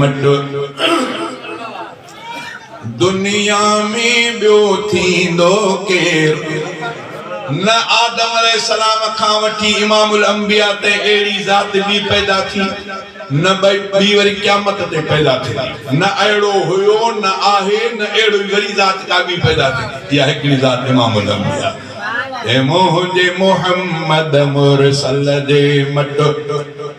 مٽ دنيا ۾ ٻيو ٿيندو ڪير نه آدم عليه السلام کان وٺي امام الانبياء تائين اهڙي ذات ٻي پيدا ٿي نه ٻي وري قيامت تي پيدا ٿيندي نه اهڙو هيو نه آهي نه اهڙي وري ذات ڪا ٻي پيدا ٿيندي اها هڪڙي ذات امام الانبياء اي منهنجي محمد مرسل جي مٽ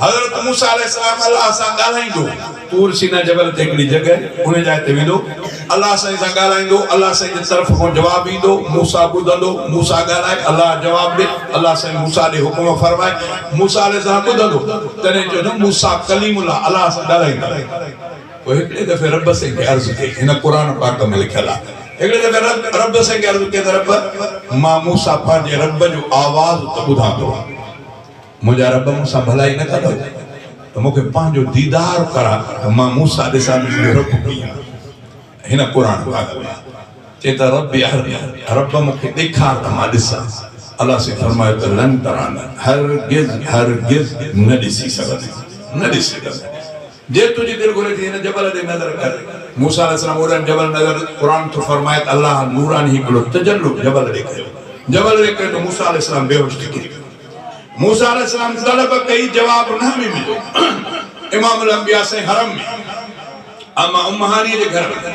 حضرت موسيٰ عليه السلام الله سان ڳالهائيندو. طور سينا جبل تي هڪڙي جڳهه آهي، انهيء جاء تي ويندو، الله سائين سان ڳالهائيندو، الله سائين جي طرف کان جواب ايندو، موسيٰ ٻڌندو، موسيٰ ڳالهائي، الله جواب ڏي، الله سائين موسيٰ ڏي حڪم فرمائي، موسيٰ عليه السلام ٻڌندو، تڏهن چئو نه موسيٰ ڪليم الله الله سان ڳالهائيندو. پوء هڪڙي دفعي رب سائين کي عرض ڪئي، هن قرآن پاڪ ۾ لکيل آهي، هڪڙي دفعي رب رب سائين کي عرض ڪئي ته رب! مان موسيٰ پنهنجي رب جو آواز ته ٻڌان ٿو. منهنجا رب مون سان ڀلائي نه ڪندو ته مون کي پنهنجو ديدار ڪراء ته مان موسيٰ ڏسان ته منهنجو رب ڪيئن آهي. هن قرآن پاڪ ۾ چئي ته رب ارني، رب مون کي ڏيکار ته مان ڏسان. الله سائين فرمايو ته لن تراني، هرگز هرگز نه ڏسي سگهندين، نه ڏسي سگهندين. جي تنهنجي دل گهري ٿي هن جبل ڏي نظر ڪر. موسيٰ عليه السلام اوڏانهن جبل نظر قرآن ٿو فرمائي ته الله نوراني هڪ ڀيرو تجلو جبل ڏي ڪيو. جبل ڏي ڪيو ته موسيٰ عليه السلام بيهوش ٿي ڪري پيو. موسيٰ عليه السلام طلب ڪئي جواب نه ۾ مليو. امام الانبياء سائين حرم ۾ عمه امهانيء جي گهر ۾.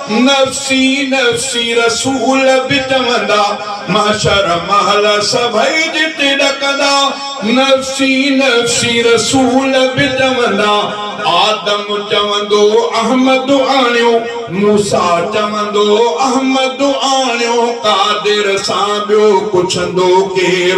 نفسي نفسي رسول به چوندا، محشر مهل سڀئي ڏٺ ڏڪندا. نفسي نفسي رسول به چوندا، آدم چوندو احمد آڻيو، موسيٰ چوندو احمد آڻيو، قادر سان ٻيو پڇندو ڪير؟